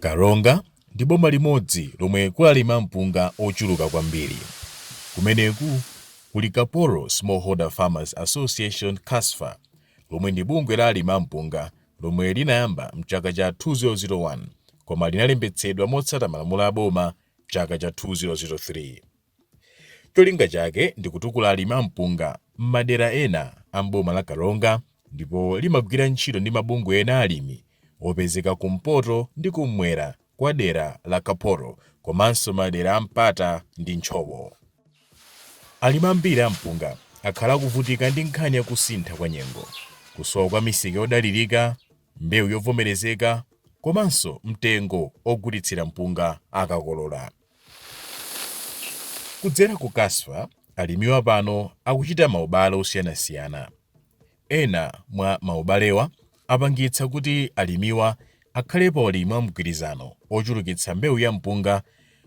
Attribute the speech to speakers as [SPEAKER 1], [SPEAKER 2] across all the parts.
[SPEAKER 1] karonga ndi boma limodzi lomwe kuli alimi a mpunga ochuluka kwambiri kumeneku kuli kaporo smallholder farmers association kasfa lomwe ndi bungwe la alima mpunga lomwe linayamba mchaka cha 2001 koma linalembetsedwa motsata malamulo a boma chaka cha 2003 Cholinga chake ndi kutukula alimi a mpunga m'madera ena a m'boma la Karonga ndipo limagwira ntchito ndi mabungwe ena a alimi opezeka kumpoto ndi kum'mwera kwa dera la Kaporo komanso madera a Mpata ndi Ntchowo. Alimi ambiri a mpunga akhala akuvutika ndi nkhani ya kusintha kwa nyengo, kusowa kwa misika yodalirika, mbewu yovomerezeka komanso mtengo ogulitsira mpunga akakolola. Kudzera ku Kasfa, alimiwa pano akuchita maubale osiyanasiyana. Ena mwa maubalewa apangitsa kuti alimiwa akhale pa ulimi wa mgwirizano ochulukitsa mbewu ya mpunga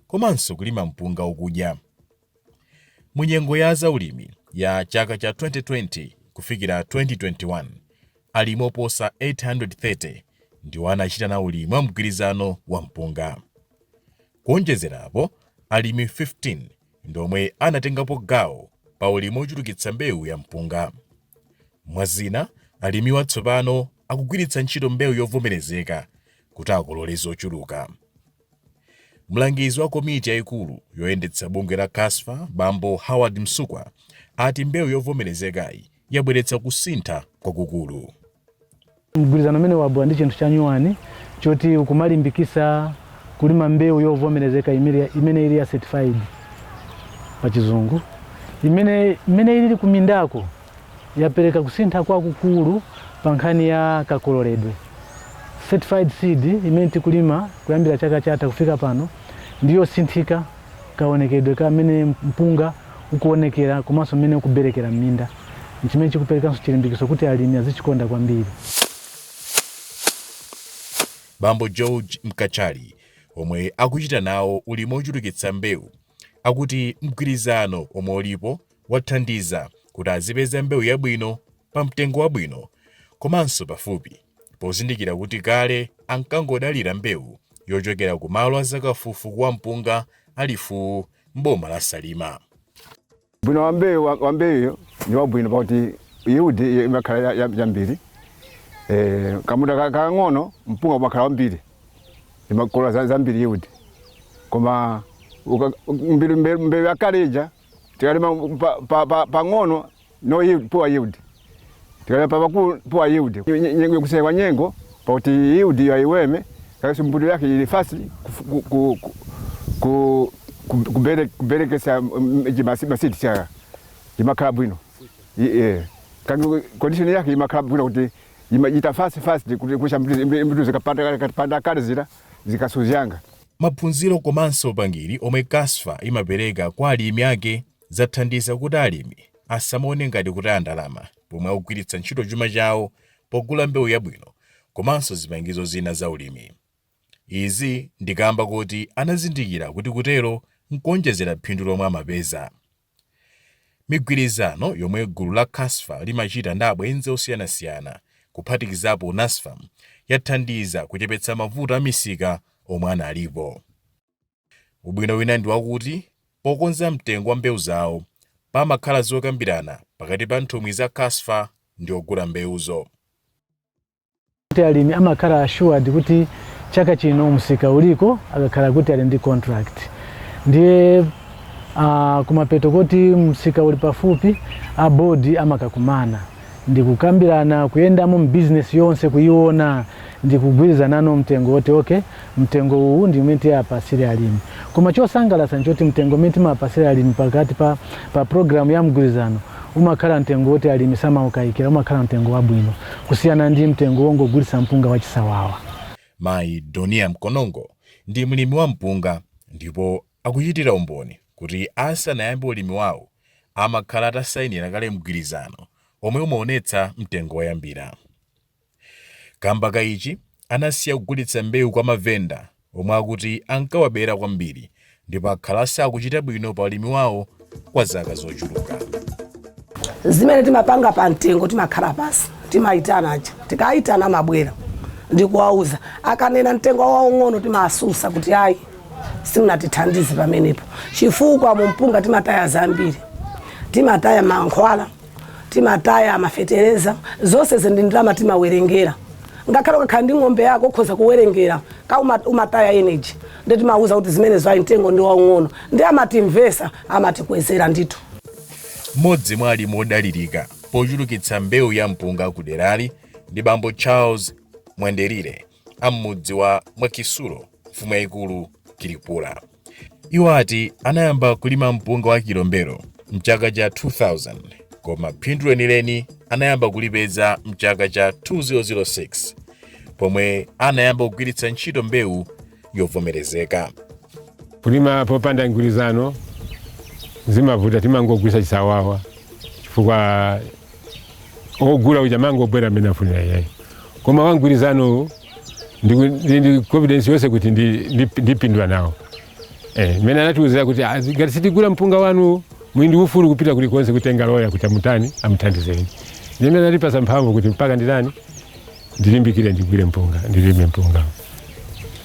[SPEAKER 1] komanso kulima mpunga okudya. Mu nyengo ya za ulimi ya chaka cha 2020 kufikira 2021, alimi oposa 830 ndiwo anachita nawo ulimi wa mgwirizano wa mpunga. Kuonjezera apo, alimi 15 ndi omwe anatengapo gawo pa ulimi ochulukitsa mbewu ya mpunga. Mwa zina, alimiwa tsopano akugwiritsa ntchito mbewu yovomerezeka kuti akolole zochuluka. Mlangizi wa komiti yaikulu yoyendetsa bungwe la Kasfa bambo Howard Msukwa ati mbewu yovomerezekayi yabweretsa kusintha kwakukulu. Mgwirizano umene wabwera ndi chinthu chanyuwani choti ukumalimbikisa kulima mbewu yovomerezeka imene ili ya certified pa chizungu imene imene ilili kumindako yapereka kusintha kwakukulu pa nkhani ya kakololedwe. Certified seed imene tikulima kuyambira chaka chatha kufika pano ndiyosinthika. Kaonekedwe ka mmene mpunga ukuonekera komanso mmene ukuberekera m'minda n'chimene chikuperekanso chilimbikiso kuti alimi azichikonda kwambiri. Bambo George Mkachali, omwe akuchita nawo ulimi wochulukitsa mbewu, akuti mgwirizano omwe ulipo wathandiza kuti azipeza mbewu yabwino pamtengo wabwino komanso pafupi, pozindikira kuti kale ankangodalira mbewu yochokera ku malo a zakafufuku wa mpunga a Lifuwu m'boma la Salima. Ubwino wa mbewu wa- wa mbewuyo ndi wabwino pakuti yield iyo imakhala ya- ya- yambiri Eh, kamunda ka- kakang'ono mpunga umakhala wambiri umakolola za- zambiri yield koma uka- mbewu- mbewu mbewu yakale ija Tikalima pa- pa- pa- pang'ono no yield, poor yield. Tikalima pa pakulu poor yield. Nye- nye- Nyengo kusewa nyengo pakuti yield yo ayiweme kaso mbuto yake ili fast kufu- ku- ku- ku- ku- ku- kubere- kuberekesa mm, ichi masi- masidi cha imakhala bwino. I- eh. Kangi condition yake imakhala bwino kuti imachita fast fast kuti kusha mbuto zikapanda kale zira zikasuzanga. Maphunziro komanso upangiri omwe Casfa imapereka kwa alimi ake zathandiza kuti alimi asamaone ngati kutaya ndalama pomwe akugwiritsa ntchito chuma chawo pogula mbewu yabwino komanso zipangizo zina za ulimi. Izi ndi kaamba koti anazindikira kuti kutero n'kuonjezera phindu lomwe amapeza. Migwirizano yomwe gulu la Casfa limachita ndi abwenzi osiyanasiyana, kuphatikizapo Nasfam, yathandiza kuchepetsa mavuto a misika omwe analipo. Ubwino wina ndi wakuti pokonza mtengo wa mbewu zawo, pamakhala zokambirana pakati pa nthumwi za Casfa ndi ogula mbewuzo. kuti alimi amakhala assured kuti chaka chino msika uliko akakhala kuti ali ndi contract ndiye uh, kumapeto koti msika uli pafupi a bodi amakakumana ndikukambirana kuyendamo mbizinesi yonse kuyiona ndikugwirizanano mtengo woti okay mtengo uwu ndi umene tiapasire alimi. Koma chosangalatsa nchoti mtengo umene timapasira alimi pakati pa pa program ya mgwirizano umakhala mtengo woti alimi samaukaikira umakhala mtengo wabwino kusiyana ndi mtengo wongogulitsa mpunga wachisawawa. Mayi Donia Mkonongo ndi mlimi wa mpunga ndipo akuchitira umboni kuti asanayambe ulimi wawo amakhala atasainira kale mgwirizano omwe umaonetsa mtengo woyambira. Kamba ka ichi, anasiya kugulitsa mbewu kwa mavenda omwe akuti ankawabera kwambiri ndipo akhala asakuchita bwino pa ulimi wawo kwa zaka zochuluka. zimene timapanga pa mtengo timakhala pansi timaitana aja tikaitana amabwera ndikuwauza akanena mtengo waung'ono timaasusa kuti ayi simunatithandize pamenepo chifukwa mumpunga timataya zambiri timataya mankhwala timataya amafetereza zonse ze ndi ndalama timawerengera ngakhale ukakhala ndi ng'ombe yako ukhoza kuwerengera ka uma- umataya energy ndi timauza kuti zimenezo ayi mtengo ndi waung'ono ndi amatimvesa amatikwezera ndithu mmodzi mwa alimi odalirika pochulukitsa mbewu ya mpunga ku derali ndi bambo charles mwenderire a m'mudzi wa Mwakisulu, mfumu yaikulu Kilipula. Iwo ati anayamba kulima mpunga wa Kilombero mchaka cha 2000 koma phindu lenileni anayamba kulipeza mchaka cha 2006 pomwe anayamba kugwiritsa ntchito mbewu yovomerezeka. kulima popanda mgwirizano zimavuta timangogwiritsa chisawawa chifukwa ogula uja amangobwera mmene afunira iyeyo koma wangwirizanowo ndiku- ndi ndi confidence yonse kuti ndi- ndi- ndipindula nawo Eh, mmene anatiuzira kuti "Ah, ngati sitigula mpunga wanu muli ndi ufulu kupita kulikonse kutenga loya kuti amutani amuthandizeni ndi mmene anatipasa mphamvu kuti mpaka nditani ndilimbikire ndigwire mpunga ndilime mpunga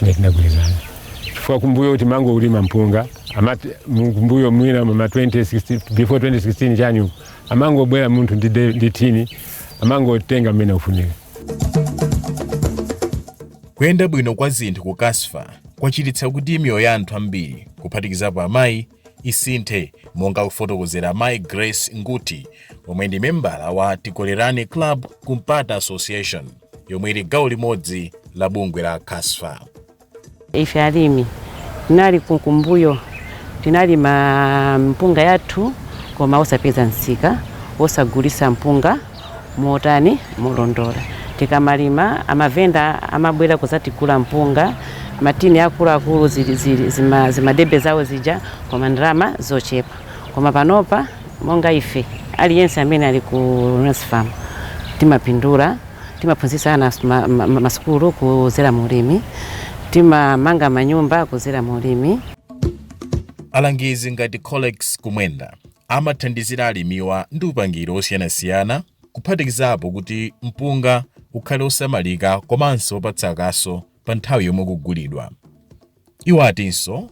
[SPEAKER 1] ne tinagwirizana chifukwa kumbuyo kuti timangolima mpunga amati mu- kumbuyo mwina ma 2016 before 2016 chanyu Amangobwera munthu ndi de- ndi thini amangotenga mmene afunira. kuyenda bwino kwa zinthu ku kasfa kwachititsa kuti miyoyo ya anthu ambiri kuphatikizapo amayi isinthe monga akufotokozera mayi grace nguti omwe ndi membala wa tikolerane club ku mpata association yomwe ili gawo limodzi la bungwe la kasfa Ife alimi tinali kumbuyo tinkalima mpunga yathu koma osapeza msika wogulisa mpunga motani molondola. Tikamalima amavenda amabwera kuzatigula mpunga matini akuluakulu zili zili zima zimadebe zawo zija koma ndalama zochepa koma panopa. Monga ife, aliyense amene ali ku Nasfam timapindula, timaphunzitsa ana masukulu kudzera mu ulimi, timamanga manyumba kudzera mu ulimi. Alangizi ngati Colex Kumwenda amathandizira alimiwa ndi upangiri wosiyanasiyana kuphatikizapo kuti mpunga ukhale osamalika komanso opatsa kaso pa nthawi yomwe ukugulidwa. Iwo atinso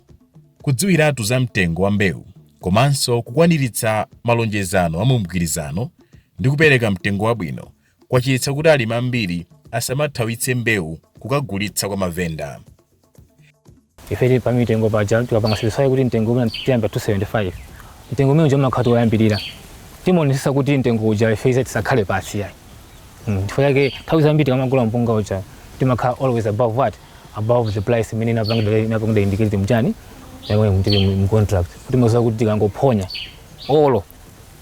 [SPEAKER 1] kudziwiratu za mtengo wa mbewu komanso kukwaniritsa malonjezano a mu mgwirizano ndi kupereka mtengo wabwino kwachititsa kuti alimi ambiri asamathawitse mbewu kukagulitsa kwa mavenda. Ife tili pa mitengo paja tikapanga specify kuti mtengo umene tiyamba 275 mtengo umene uja umakhala woyambirira timaonetsetsa kuti mtengo uja ife ize tisakhale pansi yayi Mm, chifukwa chake nthawi zambiri tikamagula mpunga uja timakhala always above what above the price imene inapangidwa inapangidwa indicated mchani yamwe mtiri mu contract timaziwa kuti tikangophonya olo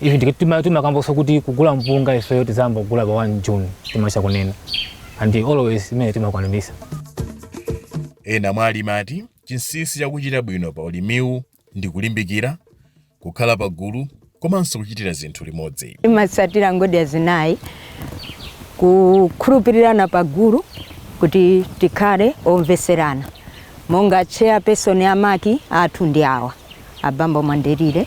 [SPEAKER 1] ivi ndike tima timakamboso kuti kugula mpunga ifeyo tizayamba kugula pa 1 June timatha kunena and always imene timakwanirisa ena mwa alimi ati chinsinsi chakuchita bwino pa ulimiwu ndi kulimbikira, kukhala pagulu komanso kuchitira zinthu limodzi. Timatsatira ngodya zinayi, kukhulupirirana pagulu kuti tikhale omvetserana. Monga chairperson wa market athu ndi awa abambo Mwandirire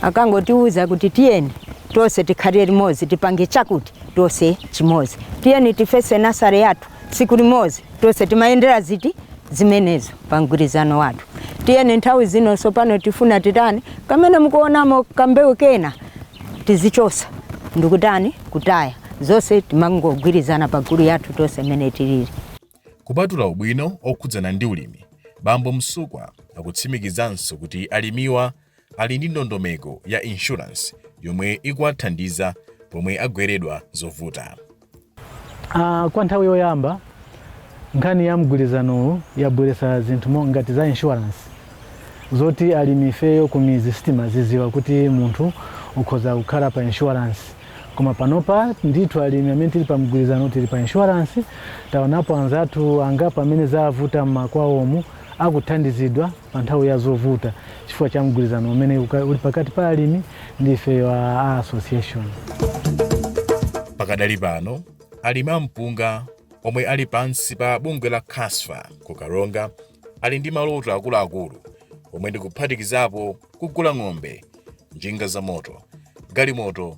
[SPEAKER 1] akangotiuza kuti tiyeni tonse tikhalire limodzi tipange chakuti tonse chimodzi, tiyeni tifese nazale yathu tsiku limodzi tonse timayendera ziti zimenezo. pa mgwirizano wathu. Ndiyeno nthawi zino tsopano tifuna kutani kamene tikuonamo kambewu kena tizichosa ndikutani kutaya zonse timangogwirizana pa gulu yathu tonse mmene tilili. Kupatula ubwino okhudzana ndi ulimi, bambo Msukwa akutsimikizanso kuti alimiwa ali ndi ndondomeko ya insurance yomwe ikuwathandiza pomwe agweredwa zovuta. Ah, kwa nthawi yoyamba nkhani ya mgwirizanowu yabweretsa zinthu mo- ngati za insurance zoti alimi ifeyo kumizi sitimaziziwa kuti munthu ukhoza kukhala pa insurance koma panopa ndithu alimi amene tili pa mgwirizanowu tili pa insurance taonapo anzathu angapo amene zavuta mmakwawomu akuthandizidwa pa nthawi ya zovuta chifukwa cha mgwirizano umene uka- uli pakati pa alimi ndi ifeyo a a association pakadali pano alimi a mpunga omwe ali pansi pa bungwe la kasfa ku karonga ali ndi maloto akuluakulu omwe ndikuphatikizapo kugula ng'ombe njinga za moto galimoto